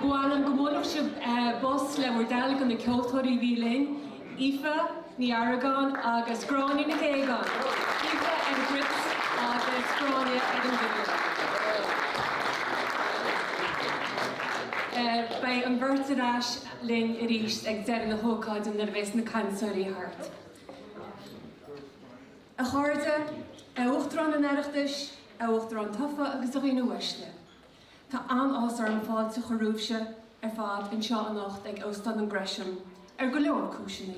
Ba mhaith liom go mbuailfeadh sibh bos le bhur dtoil do na ceoltóirí a bhí linn, Aoife Ní Argáin agus Gráinne Nic Aogáin, Aoife ar an gcruit agus Gráinne ar an bhfidil. Beidh an bheirt ar ais linn arís ag deireadh na hócáide nuair a bheas na cainteoirí thart. A chairde, a Uachtarán an Oireachtais, a Uachtarán Tofa agus a dhaoine uaisle. Tá an-áthas orm fáilte a chur romhaibhse ar fad anseo anocht ag Óstán an Gresham ar go leor cúiseanna.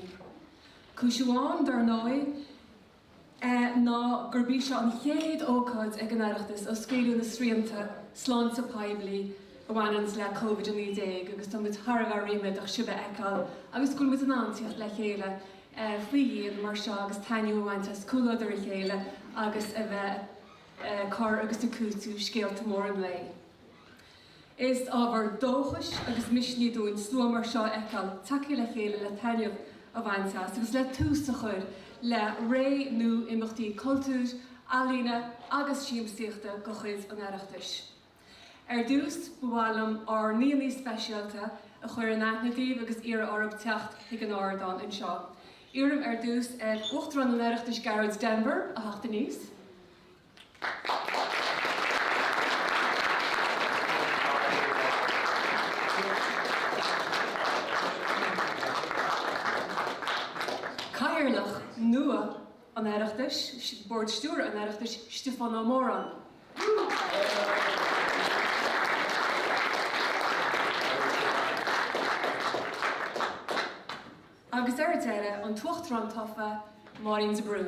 Cúis amháin, dár ndóigh, ná gurb í seo an chéad ócáid ag an Oireachtas ó scaoileadh na srianta sláinte poiblí a bhaineanns le Covid-19 agus tá muid thar a bheith ríméadach sibh a fheiceáil agus go bhfuil muid in ann tíocht le chéile faoi dhíon mar seo agus taitneamh a bhaint as comhluadar a chéile agus a bheith ag cur agus ag cúiteamh scéalta móra an lae. Is ábhar dóchais agus misnigh dúinn slua mar seo a fheiceáil tagtha le chéile le taitneamh a bhaint as agus le tús a chur le ré nua imeachtaí cultúir, ealaíona agus siamsaíochta de chuid an Oireachtais. Ar dtús, ba mhaith liom ár ndaoine speisialta a chur in aithne daoibh agus iarraidh oraibh teacht chuig an ardán anseo. Iarraim ar dtús ar Uachtarán an Oireachtais Gearóid Denvir a theacht aníos. Cathaoirleach nua. an Oireachtais, Bord Stiúrtha an Oireachtais, Stiofán Ó Móráin. Agus ar deireadh, an tUachtarán tofa, Máirín de Brún.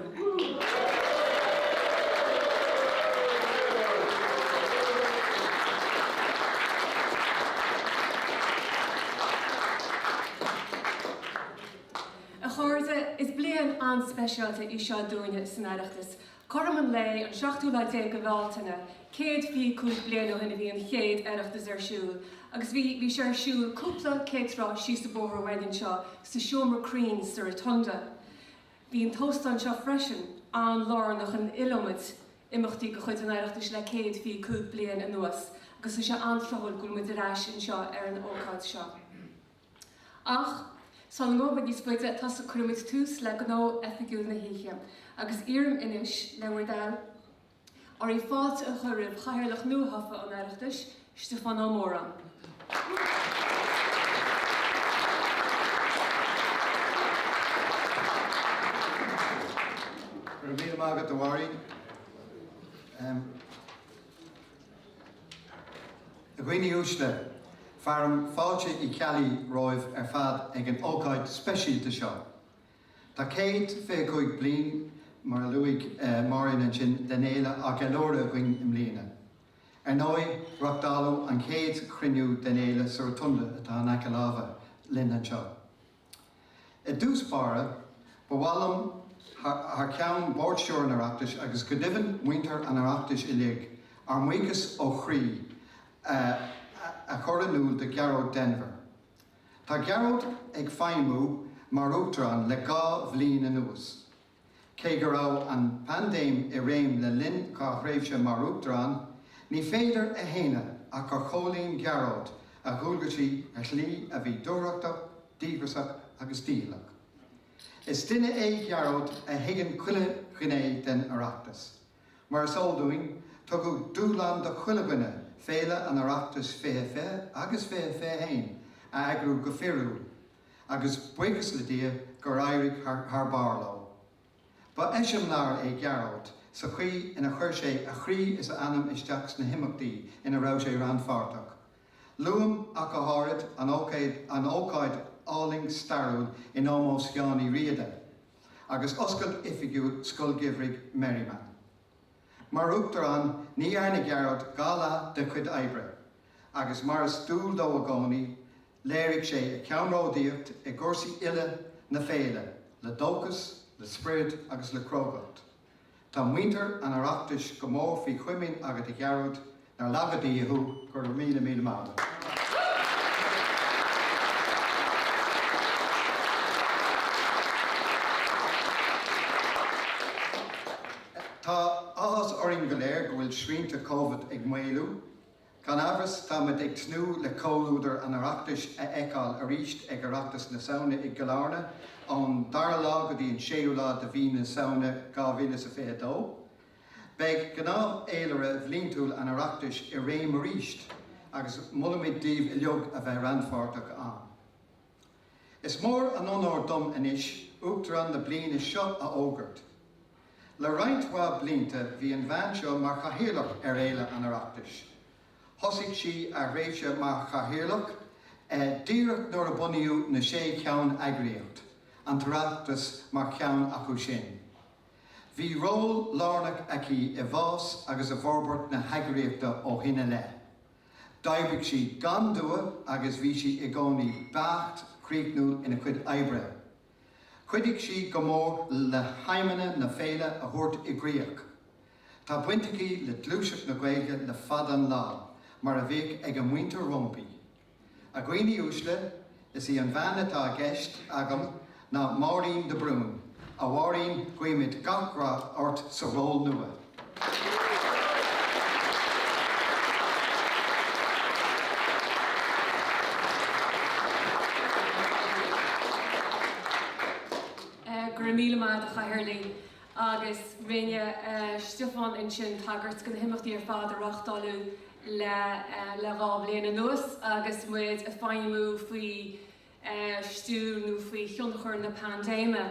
A chairde, is bliain an-speisialta í seo dúinne san Oireachtas. Cothrom an lae inné, an seachtú lá déag de Bhealtaine, céad fiche cúig bliana ó shin a bhí an chéad Oireachtas ar siúl agus bhí, bhí sé ar siúl cúpla céad slat síos an bóthar uainn anseo sa Seomra Cruinn sa Rotunda. Bhí an t-óstán seo freisin an-lárnach in iliomad imeachtaí de chuid an Oireachtais le céad fiche cúig bliain anuas agus is é an-tráthúil go bhfuil muid ar ais anseo ar an ócáid seo. Ach gan mórán níos faide a thógáil, cuirimid tús le gnó oifigiúil na hoíche agus iarraim anois le bhur dtoil oraibh fáilte a chur roimh Chathaoirleach nuathofa an Oireachtais, Stiofán Ó Móráin. Go raibh míle maith agat, a Mháirín. A dhaoine uaisle, fearaim fáilte Uí Cheallaigh romhaibh ar fad ag an ócáid speisialta seo. Tá céad fiche cúig bliain, mar a luaigh Máirín ansin, den fhéile á gceiliúradh againn i mbliana. Ar ndóigh, reachtáladh an chéad chruinniú den fhéile sa Rotunda atá in aice láimhe linn anseo. I dtús báire, ba mhaith liom, thar ceann Bhord Stiúrtha an Oireachtais agus go deimhin muintir an Oireachtais uilig, ár mbuíochas ó chroí a chur in iúl do Ghearóid Denvir. Tá Gearóid ag feidhmiú mar Uachtarán le dhá bhliain anuas. Cé go raibh an phaindéim i réim le linn do thréimhse mar Uachtarán, ní féidir a shéanadh ach gur chomhlíon Gearóid a dhualgaisí ar shlí a bhí dúthrachtach, díograsach agus dícheallach. Is duine é Gearóid a thuigeann chuile ghné den Oireachtas. Mar is eol dúinn, tugadh dúshlán do chuile dhuine féile an Oireachtais 2020 agus 2021 a eagrú go fíorúil, agus buíochas le Dia gur éirigh thar barr leo. Ba eiseamláir é Gearóid sa chaoi ina chuir sé a chroí is a anam isteach sna himeachtaí ina raibh sé rannpháirteach. Luaim ach go háirid an ócáid álainn stairiúil in ómós Sheáin Uí Riada agus oscailt oifigiúil Scoil Gheimhridh Merriman. Mar Uachtarán ní dhearna Gearóid dhá leath dá chuid oibre agus mar is dual dó i gcónaí Léirigh sé a cheannródaíocht i gcúrsaí uile na féile le dóchas, le sprid agus le crógacht. Tá muintir an Oireachtais go mór faoi chomaoin agat a Ghearóid, nár laga Dia thú, go raibh míle míle maith agat. Tá áthas orainn go léir go bhfuil srianta Covid ag maolú Gan amhras, táimid ag tnúth le comhluadar an Oireachtais a fheiceáil arís ag Oireachtas na Samhna i gCill Airne ón 2ú lá go dtí an 6ú lá de mhí na Samhna 2022. Beidh gnáthfhéilire bhliantúil an Oireachtais i réim arís agus molaimid daoibh uilig a bheith rannpháirteach ann. Is mór an onóir dom anois Uachtarán na bliana seo a fhógairt. Le roinnt mhaith blianta bhí an bhean seo mar Chathaoirleach ar Fhéile an Oireachtais. Thosaigh sí a tréimhse mar Chathaoirleach díreach nuair a bunaíodh na sé cheann-eagraíocht, an tOireachtas mar cheann acu sin. Bhí ról lárnach aici i bhfás agus i bhforbairt na heagraíochta ó shin i leith. D'oibrigh sí gan dua agus bhí sí i gcónaí beacht críochnúil ina cuid oibre. Chuidigh sí go mór le haidhmeanna na féile a thabhairt i gcrích. Tá baint aici le gluaiseacht na Gaeilge le fada an lá, mar a bhíodh ag a muintir roimpi. A dhaoine uaisle, Is í an bhean atá i gceist agam ná Máirín de Brún. A Mháirín, guímid gach rath ort sa ról nua. Go raibh míle maith agat a Chathaoirligh agus rinne Stiofán ansin tagairt do na himeachtaí ar fad a reáchtáladh le le dhá bhliain anuas agus muid ag feidhmiú faoi stiúir nó faoi thionchar na paindéime.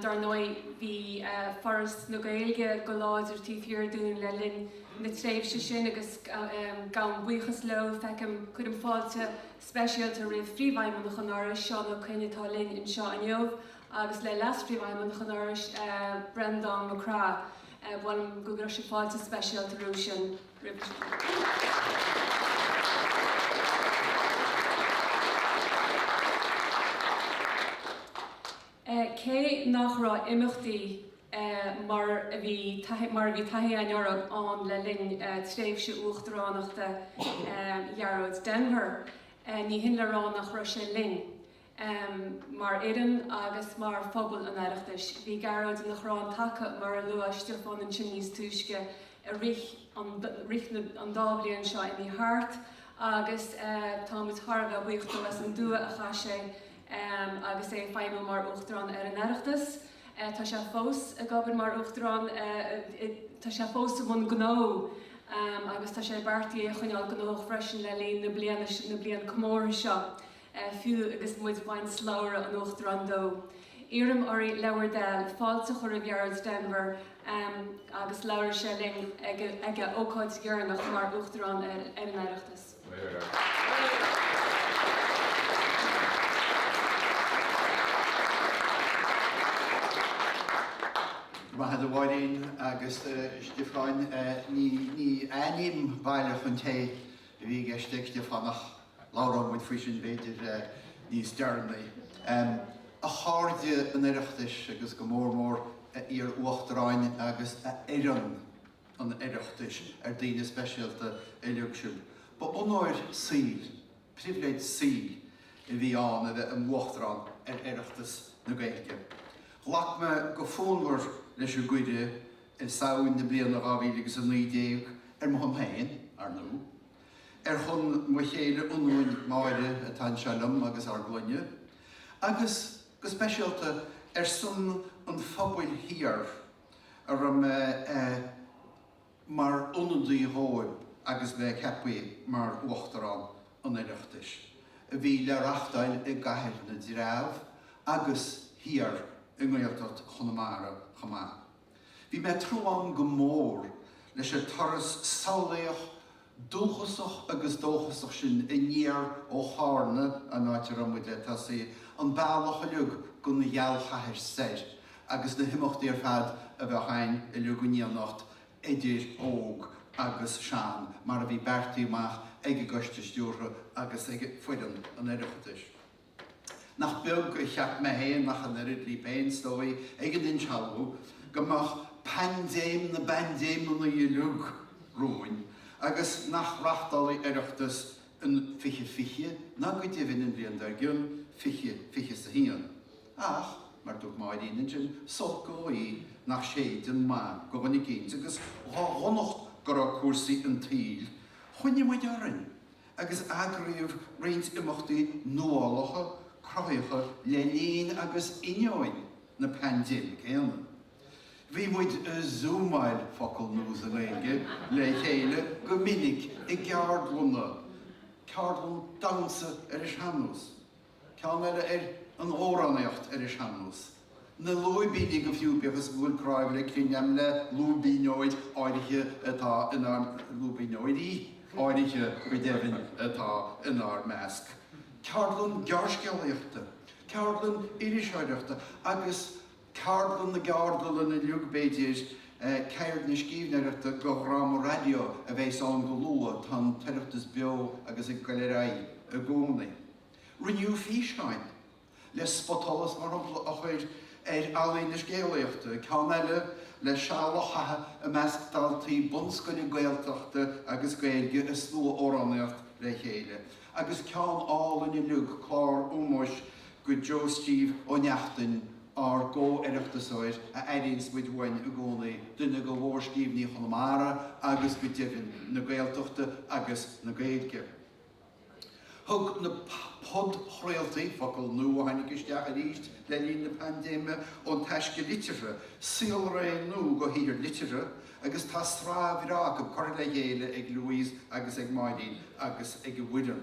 Dar ndóigh bhí Foras na Gaeilge go láidir taobh thiar dínn le linn na tréimhse sin agus gabhaim buíochas leo. Feicim, cuirim fáilte speisialta roimh Phríomhfheidhmeannach an Fhorais, Seán Ó Coinn atá linn anseo inniu agus Leas-Phríomhfheidhmeannach an Fhorais, Breandán Mac Craith. Buailim go gcuirfeadh sé fáilte speisialta roimh sin. Cé nach raibh imeachtaí mar a bhí mar a bhí taithí againn orthu le linn tréimhse uachtaránachta Ghearóid Denvir, ní hin le rá nach raibh sé linn. em mar fhoireann agus mar phobal an Oireachtais. Bhí Gearóid ina chrann taca mar a luaigh Stiofán ansin níos túisce i rith an rith na an dá bhliain seo a d'imigh thart agus eh tá muid thar a bheith buíoch dó as an dua a chaith sé em agus é ag feidhmiú mar Uachtarán ar an Oireachtas. Eh tá sé fós ag obair mar Uachtarán eh i tá sé fós i mbun gnó em agus tá sé beartaithe é a choinneáil gnóthach freisin le linn na bliana na bliana comórtha seo. Fiú agus muid ag baint slabhra an Uachtaráin de, iarraim oraibh le bhur dtoil, fáilte a chur roimh Ghearóid Denvir agus labhróidh sé linn ag a ócáid dheireanach mar Uachtarán ar an Oireachtas. Maith agat a Mháirín agus a Stiofáin. Ní ainm baile chun tae a bhí i gceist ag Stiofán ach. Labhróidh muid faoi sin b'fhéidir níos deireanaí. A chairde an Oireachtais agus go mór mór a iar-Uachtaráin agus a fhoireann an Oireachtais, ar daoine speisialta uilig sibh. Ba onóir saoil, pribhléid saoil a bhí ann a bheith i m'Uachtarán ar Oireachtas na Gaeilge. Ghlac mé go fonnmhar leis an gcuireadh i Samhain na bliana 2019, ar mo shon féin, ar ndóigh. Ar shon mo chéile ionúin Máire atá anseo liom agus ár gclainne, agus go speisialta ar son an phobail thiar a raibh mé mar ionadaí dhóibh agus bheith ceaptha mar Uachtarán an Oireachtais, a bhí le reachtáil i gCathair na dTreabh agus thiar i nGaeltacht Chonamara chomh maith. Bhí mé tnúthán go mór leis an turas samhlaíoch, dúchasach agus dóchasach sin aniar ó Charna, an áit a raibh muid le tosaí, an bealach uilig go na Gealchathair soir agus na himeachtaí ar fad a bheadh againn uilig in éineacht idir óg agus sean mar a bhí beartaithe amach ag an gCoiste Stiúrtha agus ag foireann an Oireachtais. Nach beag a cheap mé fhéin ach an oiread, libh fhéin is dóigh ag an insealbhú go mbeadh paindéim na bpaindéimeannaí uilig romhainn agus nach reachtálfaí Oireachtas in fiche fiche ná go deimhin an bhliain dár gcionn, fiche fiche is a haon. Ach, mar a dúirt Máirín ansin, is olc an ghaoth nach séideann maith go dhuine eicínt agus dhá dhonacht go raibh cúrsaí an tsaoil, choinnigh muid orainn. agus eagraíodh roinnt imeachtaí nuálacha, cruthaitheacha le linn agus ainneoin na paindéime céanna. Bhí muid a 'zúmáil', focal nua sa Ghaeilge, le chéile go minic i gceardlanna, ceardlann damhsa ar an sean-nós, Ceann eile ar an amhránaíocht ar an sean-nós. Na lúibíní go fiú, bíodh is go bhfuil cnámh le crinneadh agam le lúibíneoir áirithe atá inár, lúibíneoirí áirithe go deimhin, atá inár measc. Ceardlann gearrscéalaíochta. Ceardlann iriseoireachta agus. Ceardlann na gCeardlann uilig b'fhéidir, Ceird na scríbhneoireachta go dhráma raidió a bheas ann go luath, tá an tOireachtas beo agus ag goil ar aghaidh i gcónaí. Rinneadh físeáin le spotsolas mar shampla a chur ar ealaín na scéalaíochta, ceann eile le seal a chaitheamh i measc daltaí bunscoile Gaeltachta agus Gaeilge is slua-amhránaíocht le chéile, agus ceann álainn uilig, clár ómóis go Joe Steve Ó Neachtain, ár gcomh-oireachtasóir, a airíonns muid uainn i gcónaí, duine go mhórscríbhneoirí Chonamara agus go deimhin na Gaeltachta agus na Gaeilge. Thug na podchraoltaí, focal nua a tháinig isteach arís le linn na paindéime, Ón Taisce Liteartha saolré nua go shaothair liteartha agus tá sraith bhreá acu curtha le chéile ag Louise agus ag Máirín agus ag a bhfoireann.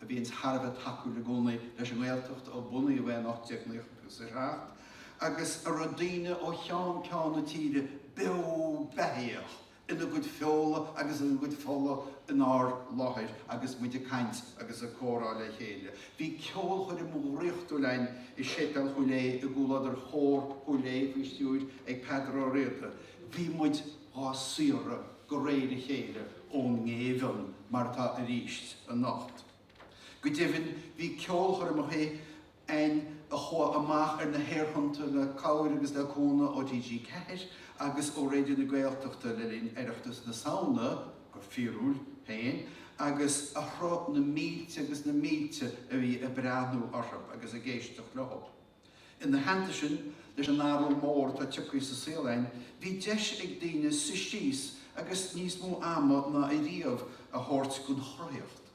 a bhíonn thar a bheith tacúil i gcónaí leis an nGaeltacht ó bunaíodh é in 1897 agus a raibh daoine ó cheann ceann na tíre beo beathaíoch ina gcuid feola agus ina gcuid fola inár láthair agus muid ag caint agus ag comhrá le chéile. Bhí ceolchoirm dhraíochtúil againn i Séipéal Chúil Aodha i gcomhluadar Chór Chúil Aodha faoi stiúir ag Peadar Ó Riada. Bhí muid. á saoradh go réir a chéile ón ngéibheann mar atá arís anocht. Go deimhin bhí ceolchoirmeacha ann a chuaigh amach ar na haerthonnta le cabhair agus le cúnamh ó TG4 agus ó Raidió na Gaeltachta le linn Oireachtas na Samhna, go fíorúil féin, agus a shroich na mílte agus na mílte a bhí ag breathnú orthu agus ag éisteacht leo. Ina theannta sin, leis an athrú mór atá tioctha sa saol againn, bhí deis ag daoine suí síos agus níos mó ama ná ariamh a thabhairt gon chruthaíocht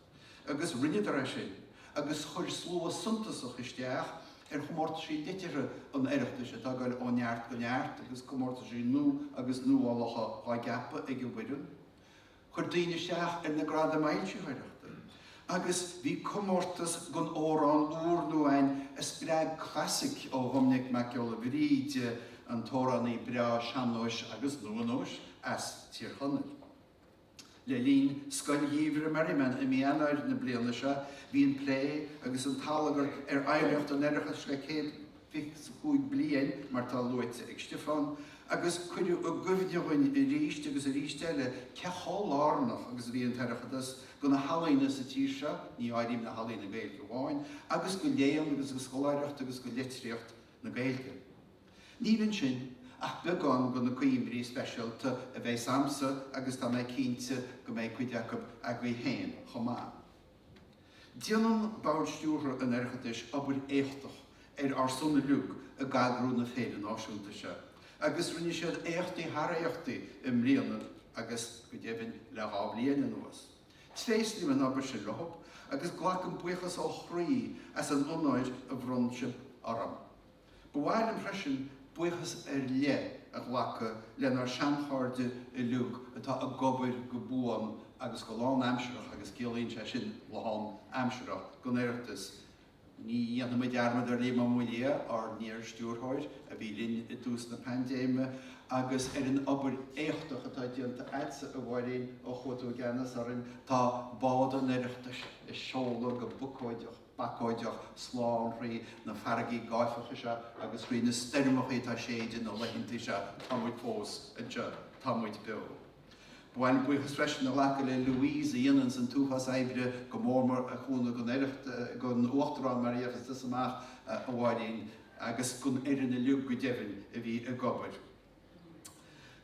agus rinneadar é sin agus chuir slua suntasach isteach ar chomórtaisí liteartha an Oireachtais atá ag goil ó neart go neart agus comórtaisí nua agus nuálacha á gceapadh ag an bhfoireann Chuir daoine isteach ar na gradaim fhoilsitheoireachta agus bhí comórtas don amhrán úrnua ann a spreag clasaic ó Dhominic Mac Giolla Bhríde, an t-amhránaí breá sean-nóis agus nua-nóis as Tír Chonaill. Le linn Scoil Gheimhridh Merriman i mí Eanáir na bliana seo bhí an plé agus an t-allagar ar oidhreacht an Oireachtais le céad. 25 bliain mar atá luaite ag Stiofán, agus cuireadh i gcuimhne dhúinn arís agus arís eile cé chomh lárnach agus a bhí an tOireachtas do na healaíona sa tír seo, ní áirím na healaíona Gaeilge amháin, agus go léann agus go scoláireacht agus go litríocht na Gaeilge. Níl ansin ach beagán de na cuimhní speisialta a bheidh agamsa agus tá mé cinnte go mbeidh cuid acu agaibh féin chomh maith. Déanann Bord Stiúrtha an Oireachtais obair éachtach ar ár son uilig ag eagrú na féile náisiúnta seo agus rinne siad éachtaí thar éachtaí i mbliana agus, go deimhin, le dhá bhliain anuas. Tréaslaím an obair sin leo agus glacaim buíochas ó chroí as an onóir a bhronn siad orm. Ba mhaith liom freisin buíochas ar leith a ghlacadh lenár seanchairde uilig atá ag obair go buan agus go lánaimsearach agus ciallaíonn sé sin lán aimsearach don Oireachtas. Ní dhéanfaimid dearmad ar Liam Ó Maolaodha, ár n-iarstiúrthóir, a bhí linn i dtús na paindéime agus ar an obair éachtach atá déanta agatsa a Mháirín ó chuaigh tú i gceannas orainn. Tá bád an Oireachtais ag seoladh go bacóideach. bacóideach slán thrí na farraigí gáifeacha seo agus thrí na stoirmeachaí atá séideadh na laethanta seo tá muid fós anseo, tá muid beo. Ba mhaith liom buíochas freisin a ghlacadh le Louise a dhéananns an t-uafás oibre go mór mór a chúnamh gon Oireacht gon uachtarán mar a gheobhas tusa amach a Mháirín agus gon fhoireann uiliog go deimhin a bhí ag obair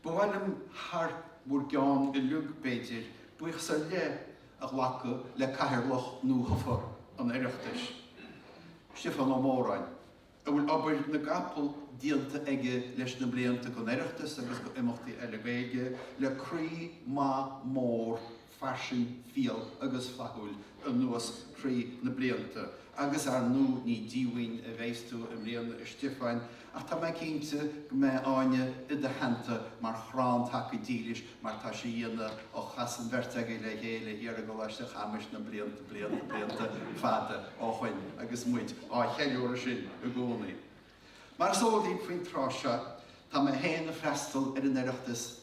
Ba mhaith liom, thar bhur gceann uilig b'fhéidir, buíochas ar leith a ghlacadh le Cathaoirleach nuathofa an Oireachtais, Stiofán Ó Móráin, a bhfuil obair na gcapall déanta aige leis na blianta, gon Oireachtas agus go imeachtaí eile Gaeilge, le croí maith mór fairsing, fial agus flaithiúil anuas thrí na blianta agus ar ndú ní díomhaoin a bheidhs tú i mbliana a Stiofáin ach tá mé cinnte go mbeidh Áine i do theannta mar chrann taca dílis mar tá sí dhéanamh ó chas an bheirt agaibh le chéile thiar i gColáiste Chamuis na blianta, blianta, blianta fada ó shoin agus muid á cheiliúradh sin i gcónaí. Mar is eol daoibh faoin tráth seo tá mé féin ag freastal ar an Oireachtas,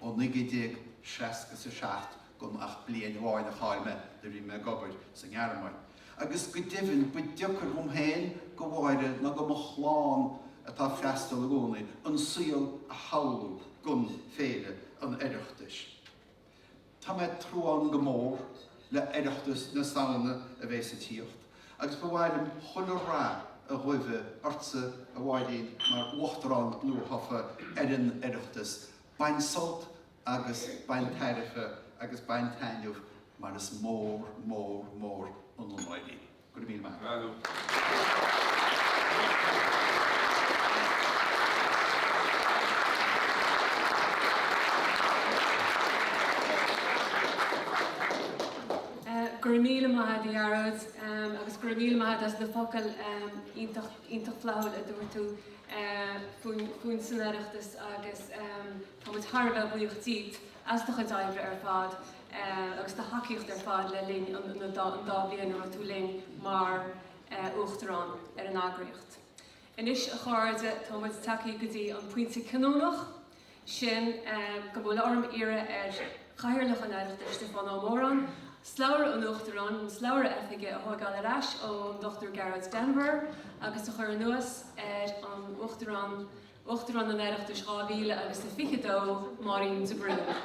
Ó 1967 gan ach bliain amháin a chaill mé nuair a bhí mé ag obair sa nGearmáin agus go deimhin ba deocair dhom féin, go Mháire ná go mo chlann atá ag freastal i gcónaí, an saol a shamhlú gan Féile an Oireachtais. Tá mé ag tnúthán go mór le Oireachtas na Samhna a bhéas ag tíocht. Agus ba mhaith liom chuile rath a ghuibhe ortsa a Mháirín mar Uachtarán nua-thofa ar an Oireachtas. Bain sult agus bain tairbhe agus bain taitneamh mar is mór, mór, mór an onóir í. Go raibh míle maith agat. Go raibh míle maith agat a Ghearóid agus go raibh míle maith agat as na focail iontach iontach flaithiúil a dúirt tú faoin faoin san Oireachtas agus tá muid thar a bheith buíoch díot as do chuid oibre ar fad agus do thacaíocht ar fad le linn an an dá an dá bhliain a raibh tú linn mar Uachtarán ar an eagraíocht. Anois a chairde tá muid tagtha go dtí an pointe cinniúnach. sin go bhfuil orm iarraidh ar Chathaoirleach an Oireachtais, Stiofán Ó Móráin, slabhra an Uachtaráin, an slabhra oifige, a thóigeáil ar ais ón Dr Gearóid Denvir agus a chur anuas ar an Uachtarán, Uachtarán an Oireachtais 2000 agus a 22, Máirín de Brún.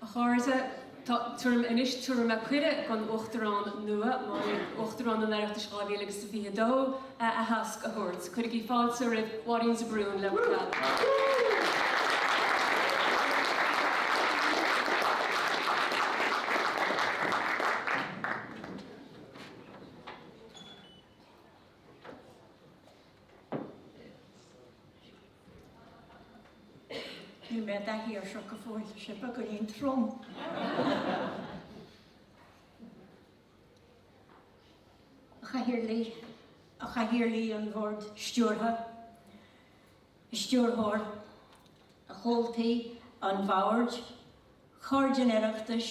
A chairde, tá orm anois cuireadh don Uachtarán nua, Uachtarán an Oireachtais 2022, a aitheasc a thabhairt. Cuirigí fáilte roimh Mháirín de Brún le bhur dtoil. Níl mé i dtaithí air seo go fóill, tá sé beagán trom. A Chathaoirligh, a Chathaoirligh an Bhoird Stiúrtha, a Stiúrthóir, a Chomhaltaí an Bhoird, Cairde an Oireachtais,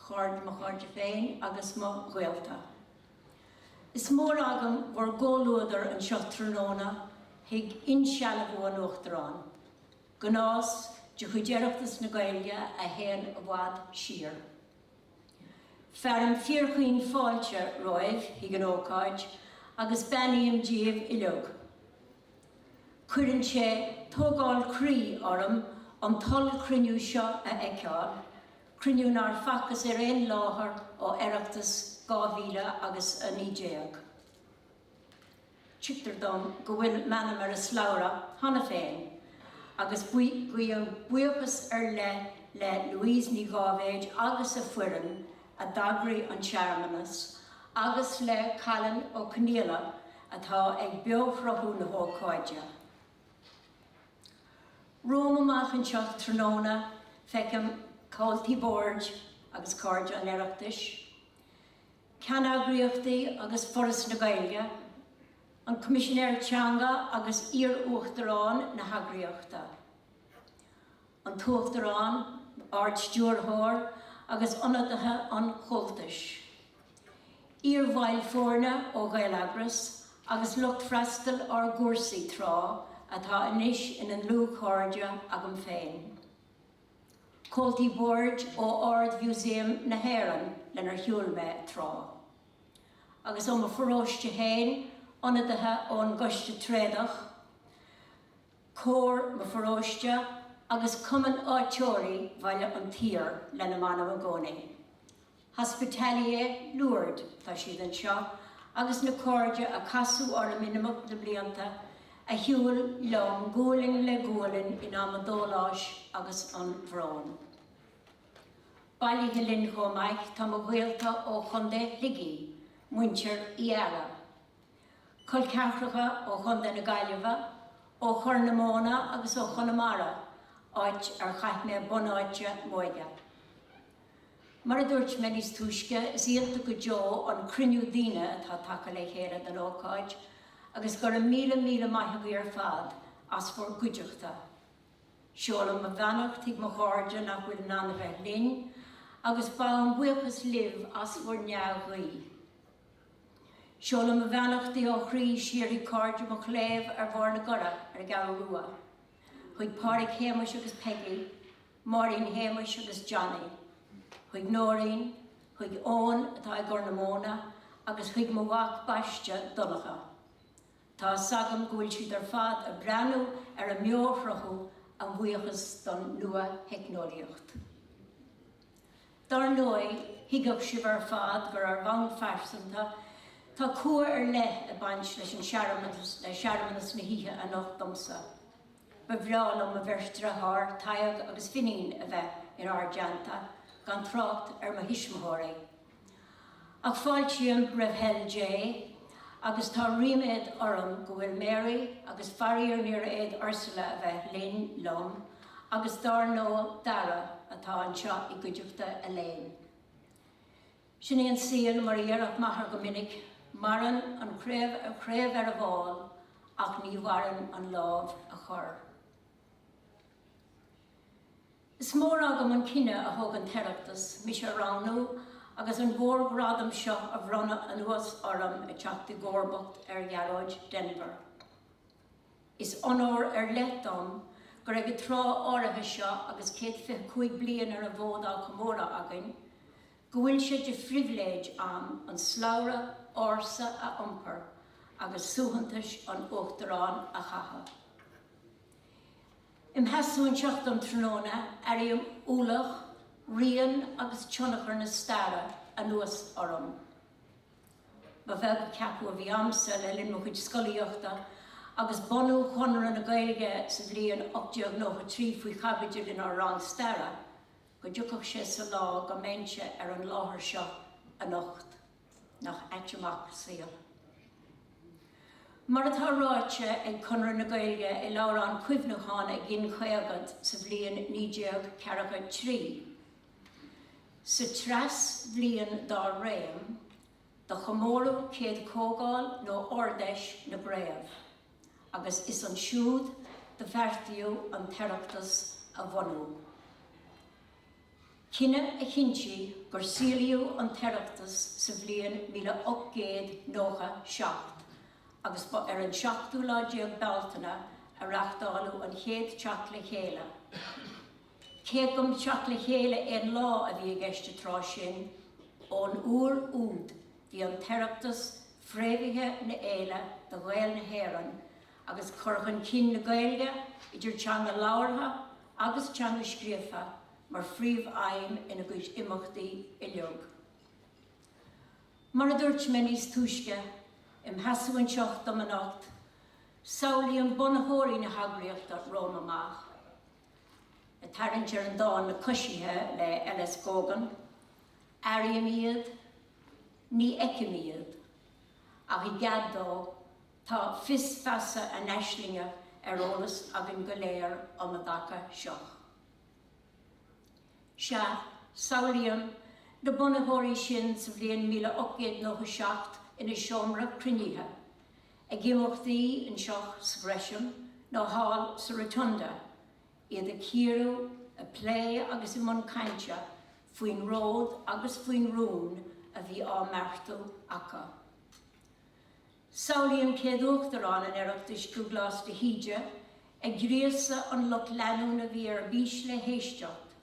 Cairde, mo chairde féin agus mo ghaolta. Is mór agam bhur gcomhluadar anseo tráthnóna chuig insealbhú an Uachtaráin, gnás de chuid Oireachtas na Gaeilge a théann i bhfad siar. Fearaim fíorchaoin fáilte romhaibh chuig an ócáid agus beannaím díbh uiliog. Cuireann sé tógáil croí orm an t-ollchruinniú seo a fheiceáil, Cruinniú nár facthas ar aon láthair ó Oireachtas 2019. Tuigtear dom go bhfuil m'ainm ar an slabhra cheana féin agus guím buíochas ar leith le Louise Ní Dháibhéid agus a foireann a d'eagraigh an tsearmanas agus le Callan Ó Coinníolla atá ag beoshruthú na hócáide. Romham amach anseo tráthnóna feicim comhaltaí boird agus cairde an Oireachtais, ceanneagraíochtaí agus Foras na Gaeilge, an Coimisinéir Teanga agus iarUachtaráin na heagraíochta, an tUachtarán, Ard-Stiúrthóir agus ionadaithe an Chomhaltais. Iarbhaill foirne ó Ghaeleagras agus lucht freastail ár gcúrsaí tráth atá anois ina ndlúthchairde agam féin. Comhaltaí boird ó Ard-Mhúsaem na hÉireann lenar shiúil mé tráth. Agus ó mo pharóiste féin, ionadaithe ón gCoiste Tréadach, cór mo pharóiste agus Cumann Áitritheoirí Bhaile an tSaoir lena m'anam i gcónaí. Hospitalier Lourdes, tá siad anseo, agus na cairde a casadh orm in imeacht na mblianta, a shiúil liom gualainn le gualainn in am an dóláis agus an bhróin. Bailithe linn chomh maith tá mo ghaolta ó Chontae Shligigh, muintir Uí Fhearraigh. Col ceathracha ó Chontae na Gaillimhe, ó Chorr na Móna agus ó Chonamara, áit ar chaith mé bunáite m'óige. Mar a dúirt mé níos túisce, is iontach go deo an cruinniú daoine atá tagtha le chéile don ócáid agus gura míle míle maith agaibh ar fad as bhur gcuideachta. Seolaim mo bheannacht chuig mo chairde nach bhfuil in ann a bheith linn agus gabhaim buíochas libh as bhur ndea-ghuí. Seolaim mo bheannachtaí ó chroí siar chuig cairde mo chléibh ar Bharr na gCorra ar an gCeathrú Rua, chuig Pádraig Shéamuis agus Peggy, Máirín Shéamuis agus Johnny, chuig Nóirín, chuig Eoin atá i gCorr na Móna agus chuig mo mhac baiste, Donncha. Tá 'fhios agam go bhfuil siad ar fad ag breathnú ar an mbeoshruthú a bhuíochas don nua-theicneolaíocht. Dár ndóigh, tuigfidh sibh ar fad gur ar bhonn pearsanta, tá cumha ar leith ag baint leis an searmanas na hoíche anocht domsa. Ba bhreá liom mo bheirt dearthár, Tadhg agus Finín, a bheith in ár dteannta, gan trácht ar mo thuismitheoirí. Ach fáiltím roimh thoil Dé, agus tá ríméad orm go bhfuil Mary agus faraor níor fhéad Ursula a bheith linn, liom, agus dár ndóigh Dara, atá anseo i gcuideachta Elaine. Sin í an saol mar a dhéarfadh m'athair go minic, maireann an chraobh ar an bhfál ach ní mhaireann an lámh a chuir. Is mór agam an cinneadh a thug an tOireachtas mise a roghnú agus an mhórghradam seo a bhronnadh anuas orm ag teacht i gcomharbacht ar Ghearóid Denvir. Is onóir ar leith dom gur ag an tráth áirithe seo agus céad fiche cúig bliain ar an bhfód á chomóradh againn, go bhfuil sé de phribhléid a'm an slabhra ársa a iompar agus suaitheantais an Uachtaráin a chaitheamh. I mo sheasamh anseo um thráthnóna, airím ualach, rian agus tionchar na staire anuas orm. Ba bheag an ceapadh a bhí a'msa le linn mo chuid scolaíochta agus bunú Chonradh na Gaeilge sa bhliain 1893 faoi chaibidil inár rang staire. go dtiocfadh sé sa lá go mbeinnse ar an láthair seo anocht. Nach ait amach an saol. Mar atá ráite ag Conradh na Gaeilge i leabhrán cuimhneacháin a ghin caogad sa bhliain naoi déag ceathracha trí, Sa treas bhliain dá réim, do chomóradh céad comhdháil nó Ardfheis na gCraobh, agus is ansiúd do bheartaíodh an tOireachtas a bhunú. Cinneadh a chinntigh gur saolaíodh an tOireachtas sa bhliain míle ocht gcéad nócha seacht agus ba ar an seachtú lá déag Bealtaine a reachtáileadh an chéad teacht le chéile, Cé go mba teacht le chéile aon lá a bhí i gceist an tráth sin, ón uair úd bhí an tOireachtas, fréamhaithe ina fhéile do Ghaeil na hÉireann, agus cur chun cinn na Gaeilge, idir teanga labhartha agus teanga scríofa, mar phríomh-aidhm ina gcuid imeachtaí uilig. Mar a dúirt mé níos túisce i mo sheasamh anseo dom anocht, samhlaím bunaitheoirí na heagraíochta romham amach, Ag tarraingt ar an dán 'Na Coisithe' le L.S. Gógan, airím iad, ní fheicim iad, ach i gcead dó, tá fios feasa a n-aislinge ar eolas againn go léir um a dtaca seo. Sea, samhlaím na bunaitheoirí sin sa bhliain míle ocht gcéad nócha seacht ina seomra cruinnithe, Ag imeachtaí anseo sa Gresham nó thall sa Rotunda, iad ag cíoradh, ag plé agus i mbun cainte faoin ród agus faoin rún a bhí á mbeartú acu. Samhlaím céad Uachtarán an Oireachtais, Dúglás de hÍde, ag gríosadh an lucht leanúna a bhí ar bís le héisteacht,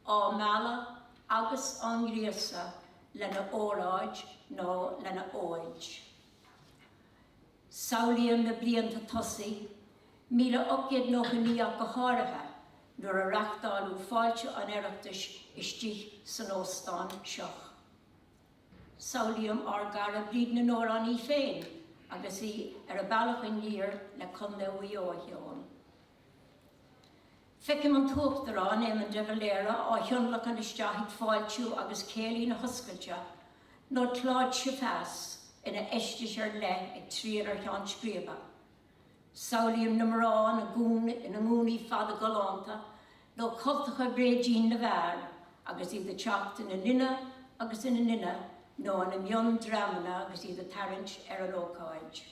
á mealladh agus á ngríosadh lena óráid nó lena óid. Samhlaím na blianta tosaigh, míle ocht gcéad nócha naoi ach go háirithe, nuair a reachtáileadh Fáilte an Oireachtais istigh san óstán seo. Samhlaím ár gcara Bríd na nAmhrán í féin agus í ar a bealach aniar le Contae Mhuigh Eo a cheol. Feicim an tUachtarán, Éamon de Valera, á thionlacan isteach chuig fáiltiú agus céilí na hoscailte, nó Claude Chavasse ina fheisteas ar leith ag triall ar cheann scríbe. Samhlaím na mná ina ngúnaí fada galánta, nó cultacha bréidín na bhfear agus iad ag teacht ina nduine agus ina nduine nó ina mion-dreamanna agus iad ag tarraingt ar an ócáid.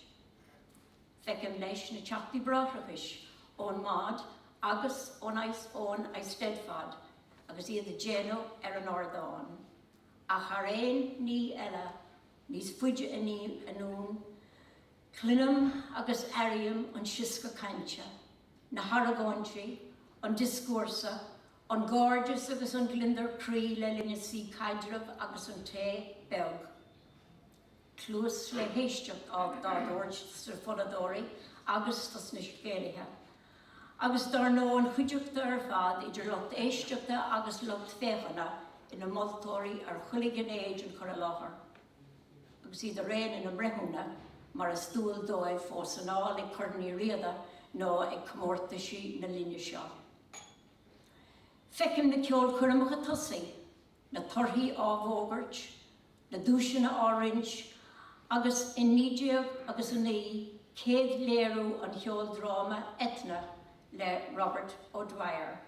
Feiceann leis na teachtaí bráithreachais ón Mòd agus ón ón Eisteddfod agus iad ag déanamh ar an ardán ach thar aon ní eile níos faide anonn cluinim agus airím an sioscadh cainte, na haragóintí, an dioscúrsa, an gairdeas agus an gliondar croí le linn an tsuí caidrimh agus an tae beag Cluas le héisteacht á tabhairt dos na fonnadóirí agus dos na scéalaithe. Agus dár ndóigh an chuideachta ar fad, idir lucht éisteachta agus lucht féachana, ina moltóirí ar chuile ghné den chur i láthair. Agus iad araon ina mbreithiúna, mar is dual dóibh, fós anall ag Corn Uí Riada nó ag comórtaisí na linne seo. Feicim na ceolchoirmeacha tosaigh, na torthaí á bhfógairt, na duaiseanna á roinnt agus in 19 agus a 9 céad léiriú an cheoldráma Eithne le Robert O'Dwyer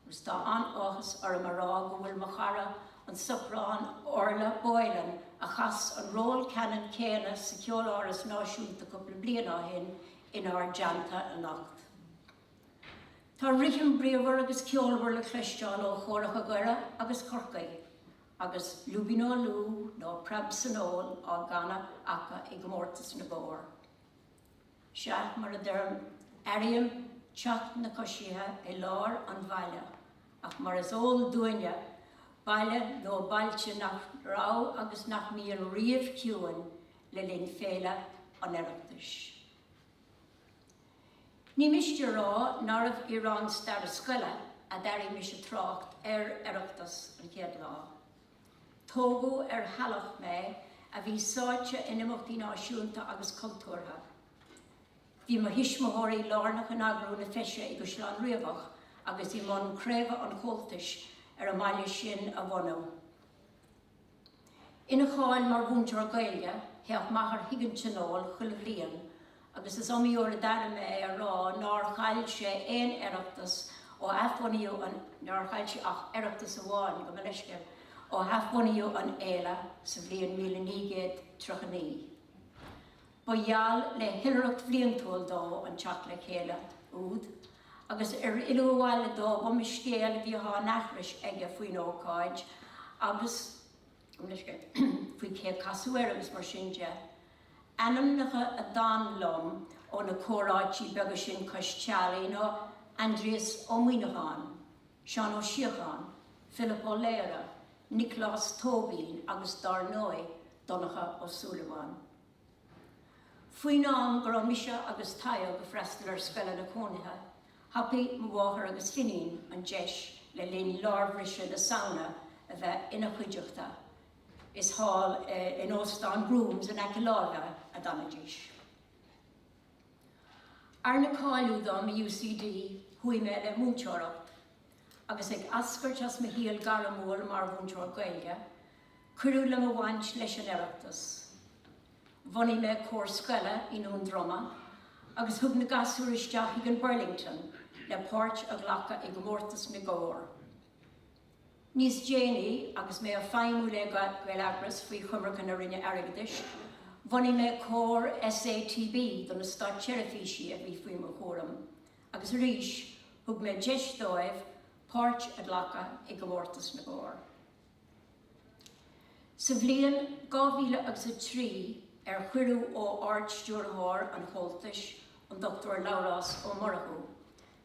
agus tá an-áthas orm a rá go bhfuil mo chara an soprán Orla Boylan a chas an ról ceannann céanna sa Cheoláras Náisiúnta cúpla bliain ó shin inár dteannta anocht. Tá rithim bríomhar agus ceolmhar le cloisteáil ó chóracha Dhoire agus Chorcaí Agus Lúibín Ó Lú nó Preab san Ól á gcanadh acu i gcomórtas na mBórd, sea, mar a deirim, airím teacht na coisithe i lár an bhaile, ach mar is eol dúinne, baile nó bailte nach raibh agus nach mbíonn ariamh ciúin le linn féile an Oireachtais. Ní miste a rá nárbh i rang staire scoile a d'airigh mise trácht ar Oireachtas an chéad lá. Tógadh ar theallach mé a bhí sáite in imeachtaí náisiúnta agus cultúrtha. Bhí mo thuismitheoirí lárnach in eagrú na Feise i gCaisleán Riabhach agus i mbun craobh an Chomhaltais ar an mbaile sin a bhunú. Ina cháil mar mhúinteoir Gaeilge, théadh m'athair chuig an Tionól chuile bhliain agus is iomaí uair a d'airigh mé é ag rá nár chaill sé aon Oireachtas ó hathbhunaíodh an nár chaill sé ach Oireachtas amháin, gabh mo leithscéal, ó hathbhunaíodh an fhéile sa bhliain míle naoi gcéad triocha naoi. Ba gheall le hoilithreacht bhliantúil dó an teacht le chéile úd, agus ar fhilleadh abhaile dó is iomaí scéal a bhíodh á aithris aige faoin ócáid agus faoi cé a casadh air agus mar sin de. Ainmneacha a d'fhan liom ó na comhráití beaga sin cois teallaigh ná Aindrias Ó Muimhneacháin, Seán Ó Síocháin, Pilib Ó Laoghaire, Nioclás Tóibín agus dár ndóigh, Donncha Ó Súilleabháin. Faoin am go raibh mise agus Tadhg ag freastal ar scoileanna cónaithe, thapaigh mo mháthair agus Finín an deis le linn lár bhriseadh na Samhna a bheith ina chuideachta, is thall in Óstán Brooms in aice láimhe a d'fhanaidís. Arna cáiliú dom i UCD, chuaigh mé le múinteoireacht, agus ag eascairt as mo shaol gairmiúil mar mhúinteoir Gaeilge, cuireadh le mo bhaint leis an Oireachtas. Bhunaigh mé cór scoile i nDún Droma agus thug na gasúir isteach chuig an Burlington le páirt a ghlacadh i gcomórtas na gcór. Níos déanaí, agus mé ag feidhmiú le Gaeleagras faoi choimirce na Roinne Airgeadais, bhunaigh mé cór SATB do na státseirbhísí a bhí faoi mo chúram agus arís thug mé deis dóibh páirt a ghlacadh i gcomórtas na gcór. Sa bhliain 2003 ar chuireadh ó Ard-Stiúrthóir an Chomhaltais, an Dr Labhrás Ó Murchú,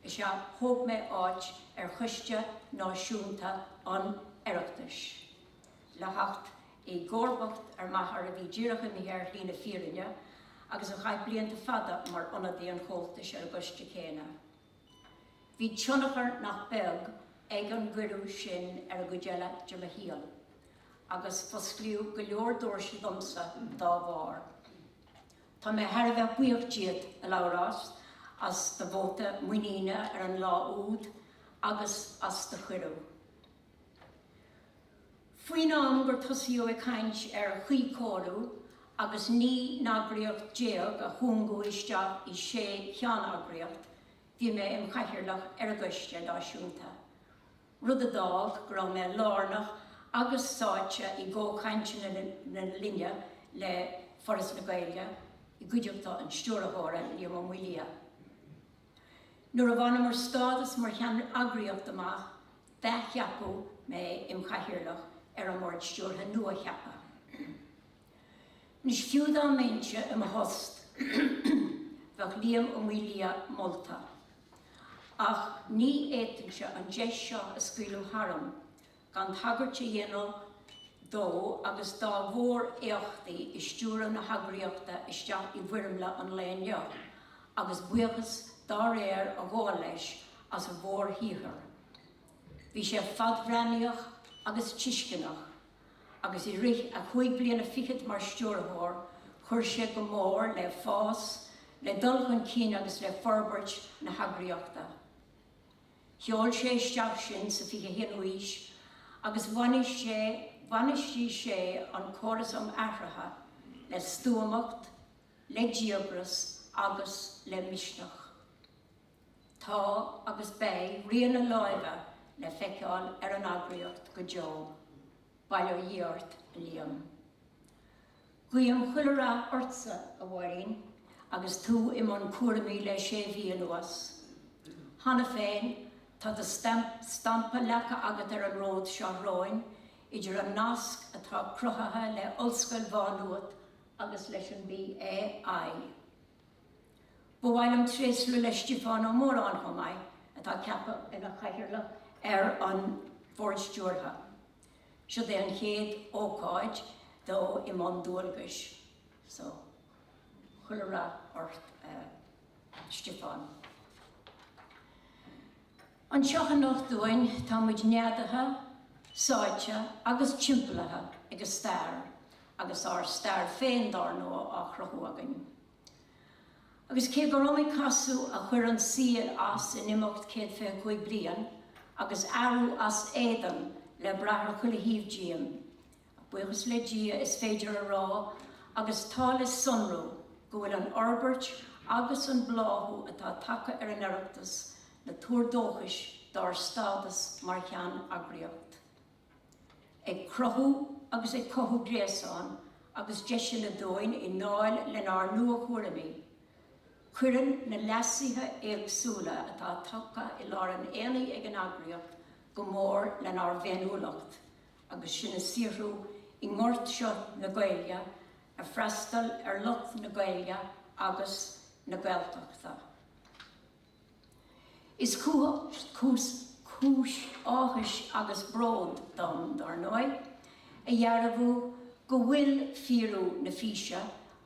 is ea thóg mé áit ar Choiste Náisiúnta an Oireachtais le theacht i gcomharbacht ar m'athair a bhí díreach imithe ar shlí na fírinne agus a chaith blianta fada mar ionadaí an Chomhaltais ar an gcoiste céanna. Bhí tionchar nach beag ag an gcuireadh sin ar an gcuid eile de mo shaol agus fosclaíodh go leor doirse domsa dá bharr. Tá mé thar a bheith buíoch díot, a Labhráis, as do bhóta muiníne ar an lá úd agus as do chuireadh. Faoin am gur tosaíodh ag caint ar chuíchóiriú agus 19 n-eagraíocht a chúngú isteach i sé cheanneagraíocht, bhí mé im chathaoirleach ar an gcoiste náisiúnta, rud a d'fhág go raibh mé lárnach agus sáite i gcomhchainteanna na linne le Foras na Gaeilge, i gcuideachta an Stiúrthóra, Liam Ó Maolaodha. Nuair a bhaineamar stádas mar cheanneagraíocht amach, athcheapadh mé im' chathaoirleach ar an mBord Stiúrtha nua-cheaptha. Anois, fiú dá mbeinnse i mo thost, bheadh Liam Ó Maolaodha molta. Ach ní fhéadfainnse an deis seo a scaoileadh tharam gan tagairt a dhéanamh dó agus dá mhór-éachtaí i stiúradh na heagraíochta isteach i bhfoirmle an lae inniu, agus buíochas dá réir a ghabháil leis as a mhórshaothar. Bhí sé fadbhreathnaíoch agus tuisceanach, agus i rith a chúig bliana fichead mar Stiúrthóir chuir sé go mór le fás, le dul chun cinn agus le forbairt na heagraíochta. Sheol sé isteach sinn sa 21 ú haois agus bhainistigh sé an córas um athruithe le stuamacht, le díogras agus le misneach. Tá agus beidh rian a láimhe le feiceáil ar an eagraíocht go deo. Bail ó Dhia ort, a Liam. Guím chuile rath ortsa, a Mháirín, agus tú i mbun cúraimí le sé mhí anuas. Cheana féin, tá do stampa leagtha agat ar an ród seo romhainn, idir an nasc atá cruthaithe le Ollscoil Mhá Nuat agus leis an BAI. Ba mhaith liom tréaslú le Stiofán Ó Móráin chomh maith, atá ceaptha ina chathaoirleach ar an Bhord Stiúrtha. Siod é an chéad ócáid dó i mbun dualgais so chuile rath ort a Stiofán. Anseo anocht dúinn tá muid neadaithe, sáite agus timpeallaithe ag an stair agus ár stair féin dár ndóigh á chruthú againn. Agus cé gur iomaí casadh a chuir an saol as in imeacht céad fiche cúig bliain, agus athrú as éadan le brath ar chuile thaobh díom, buíochas le Dia, is féidir a rá, agus tá le sonrú, go bhfuil an fhorbairt agus an bláthú atá tagtha ar an Oireachtas ina thuar dóchais dár stádas mar cheanneagraíocht. ag cruthú agus ag cothú gréasáin agus deiseanna dúinn i ndáil lenár nua-thuairimí. Cuireann na leasuithe éagsúla atá tagtha i lár an aonaigh ag an eagraíocht go mór lenár bhféiniúlacht agus sinn ag saothrú i ngort seo na Gaeilge ag freastal ar lucht na Gaeilge agus na Gaeltachta. Is cúis áthais agus bróid dom, dár ndóigh, a dhearbhú go bhfuil fíorú na físe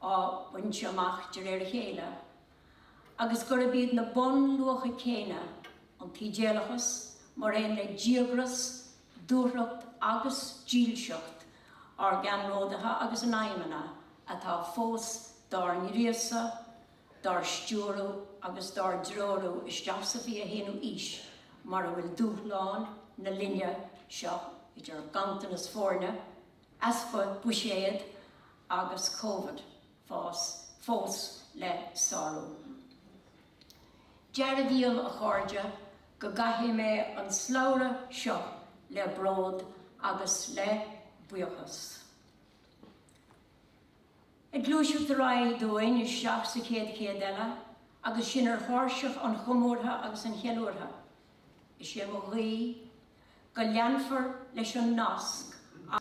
á baint amach de réir a chéile agus gurb iad na bunluacha céanna, an t-idéalachas mar aon le díogras, dúthracht agus dílseacht ár gceannródaithe agus a n-aidhmeanna, atá fós dár ngríosadh. dár stiúradh agus dár dtreorú isteach sa 21ú aois mar a bhfuil dúshláin na linne seo idir ganntanas foirne, easpa buiséad agus Covid fós le sárú. Dearbhaím, a chairde, go gcaithfidh mé an slabhra seo le bród agus le buíochas. Ag gluaiseacht ar aghaidh dúinn isteach sa chéad chéad eile agus sinn ar thairseach an chomórtha agus an cheiliúrtha, is é mo ghuí go leanfar leis an nasc a.